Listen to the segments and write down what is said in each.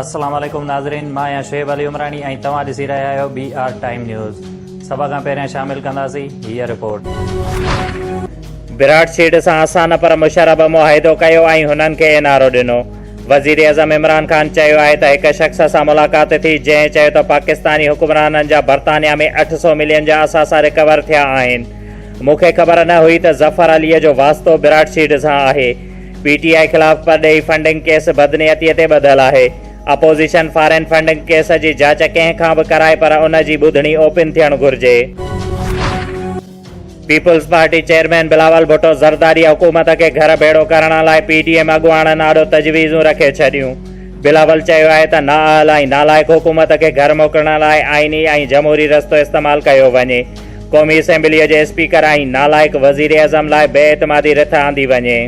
السلام عليڪم ناظرين مان آهيان شعيب علي عمراڻي ۽ توهان ڏسي رهيا آهيو بي آر ٽائيم نيوز سڀ کان پهريان شامل ڪنداسين هي رپورٽ براڊ سيڊ سان اسان نه پر مشرف به معاهدو ڪيو ۽ هنن کي اين آر او ڏنو وزيراعظم عمران خان چيو آهي ته هڪ شخص سان ملاقات ٿي جنهن چيو ته پاڪستاني حڪمرانن جا برطانيا ۾ اٺ سؤ ملين جا اثاثا رڪور ٿيا آهن مون کي خبر نه هئي ته ظفر عليء جو واسطو براٽ سيڊ سان آهي پي ٽي آء خلاف پرڏيهي فنڊنگ ڪيس بدنيتي تي ٻڌل آهي اپوزيشن فارين فنڊنگ ڪيس جي جاچ ڪنهن کان به ڪرائي پر ان جي ٻڌڻي اوپن ٿيڻ گهرجي. Peoples Party chairman Bilawal Bhutto Zardari حڪومت کي گهر ڀيڙو ڪرڻ لاء پي ڊي ايم اڳواڻن آڏو تجويزون رکي ڇڏيون. بلاول چيو آهي ته نااهل ۽ نالائق حڪومت کي گهر موڪلڻ لاء آئيني ۽ جمهوري رستو استعمال ڪيو وڃي. قومي اسيمبليء جي اسپيڪر ۽ نالائق وزيراعظم لاء بي اعتمادي رٿ آندي وڃي.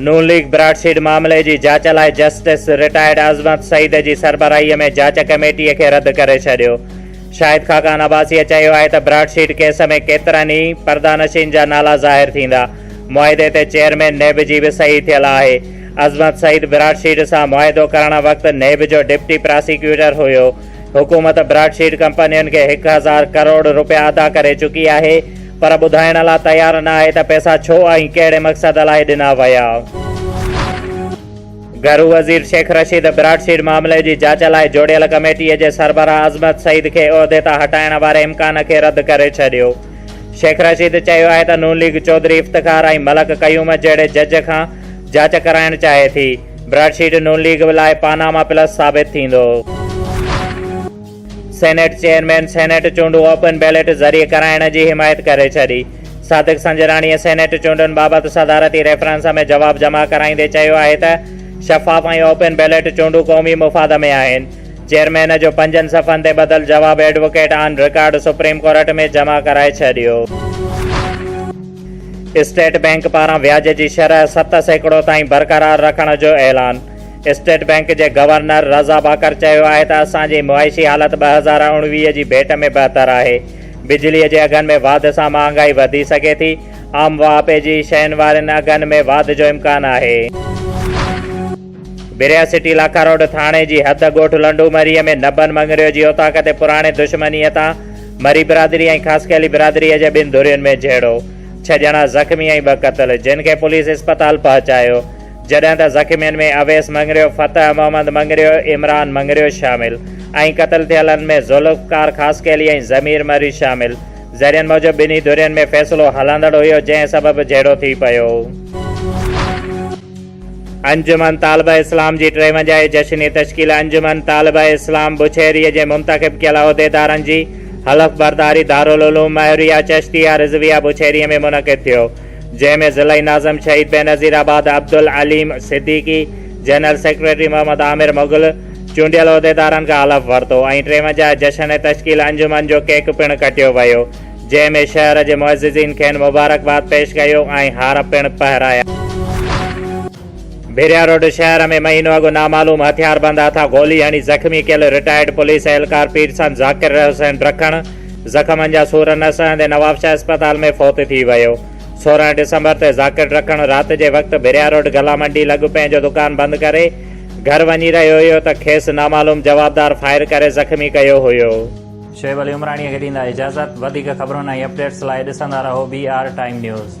نون ليگ براڊ سيڊ معاملي جي جاچ لاء جسٽس رٽائرڊ عظمت سعيد جي سربراهي ۾ جاچ ڪميٽي کي رد ڪري ڇڏيو. شاهد خاقان عباسيء چيو آهي ته براڊ سيڊ ڪيس ۾ ڪيترن ئي پردانشين جا نالا ظاهر ٿيندا. معاهدي تي چيئرمين نيب جي به صحيح ٿيل آهي. عظمت سعيد براڊ سيڊ سان معاهدو ڪرڻ وقت نيب جو ڊپٽي پراسيڪيوٽر هيو. حڪومت براڊ شيڊ ڪمپنين کي هڪ هزار ڪروڙ رپيا ادا ڪري چڪي آهي پر ٻڌائڻ لا تيار نه آهي ته پئسا ڇو ۽ ڪهڙي مقصد لاء ڏنا ويا. گهرو وزير شيخ رشيد براڊ شيڊ معاملي جي جاچ لاء جوڙيل ڪميٽي جي سربراهه عظمت سعيد کي عهدي تان هٽائڻ واري امڪان کي رد ڪري ڇڏيو. شيخ رشيد چيو آهي ته نون ليگ چوڌري افتخار ۽ ملڪ قيوم جهڙي جج کان جاچ ڪرائڻ چاهي ٿي. براڊ شيٽ نون ليگ لاء پاناما پلس ثابت ٿيندو. سينيٽ چيئرمين سينيٽ چونڊون اوپن بيلٽ ذريعي ڪرائڻ جي حمايت ڪري ڇڏي. صادق سنجراڻيء سينيٽ چونڊن بابت صدارتي ريفرنس ۾ جواب جمع ڪرائيندي چيو آهي ته شفاف ۽ اوپن بيلٽ چونڊون قومي مفاد ۾ آهن. چيئرمين جو پنجن صفحن تي ٻڌل جواب advocate on record supreme court ۾ جمع ڪرائي ڇڏيو. اسٽيٽ بئنڪ پاران وياج جي شرح ست سيڪڙو تائين برقرار رکڻ جو اعلان، اسٽيٽ بئنڪ جي گورنر رضا باقر چيو آهي ته اسان جي معاشي حالت ٻه هزار اوڻويهه جي ڀيٽ ۾ بهتر آهي، بجلي جي اگهن ۾ واڌ سان مهانگائي وڌي سگهي ٿي، عام واهپي جي شين وارين اگهن ۾ واڌ جو امڪان آهي. بريا سٽي لاکا روڊ ٿاڻي جي حد ڳوٺ لنڊو مري ۾ نبن مڱريو جي اوطاق تي پراڻي دشمنيء تان مري برادري ۽ خاصخيلي برادريء جي ٻن ڌرين ۾ جهيڙو، ڇهه ڄڻا زخمي ۽ ٻه قتل، جن کي پوليس اسپتال پهچايو، جڏهن ته زخمين ۾ اويس مڱريو، فتح محمد مڱريو، عمران مڱريو شامل ۽ قتل ٿيلن ۾ ذوالفقار خاصخيلي ۽ ضمير مري شامل، ذريعن موجب ٻنهي ڌرين ۾ فيصلو هلندڙ هيو جنهن سبب جهيڙو ٿي پيو. انجمن طالبه اسلام جي ٽيونجاهي جشني تشڪيل انجمن طالبه اسلام بڇيري جي منتخب ڪيل عهديدارن جي حلف برداري دارالعلوم مهريه چشتيه رضويه بڇيري ۾ منعقد ٿيو جنهن ۾ ضلعي ناظم Shaheed Benazirabad Abdul Aleem Siddiqui general secretary Muhammad Aamir Mughal چونڊيل عهديدارن کان حلف ورتو ۽ ٽيونجاهه جشني تشڪيل انجمن جو ڪيڪ پڻ ڪٽيو ويو. جنهن ۾ شهر جي معززين کين مبارڪباد پيش ڪيو ۽ هار پڻ پهرايا. ڀيرياروڊ شهر ۾ مهينو اڳ نامعلوم هٿياربند هٿان گولي هڻي زخمي ڪيل رٽائرڊ پوليس اهلڪار پيرسان ذاڪر حسين رکڻ زخمن جا سور نه سهندي نوابشاهه اسپتال ۾ فوت ٿي ويو. سورهن ڊسمبر تي ذاڪر رکڻ رات جي وقت ڀيرياروڊ گلا منڊي لڳ پنهنجو دڪان بند ڪري گهر وڃي رهيو هيو ته کيس نامعلوم جوابدار فائر ڪري زخمي ڪيو هيو. شعيب علي عمراڻي کي ڏيندا اجازت وڌيڪ خبرن ۽ اپڊيٽس لاء ڏسندا رهو بي آر ٽائيم نيوز.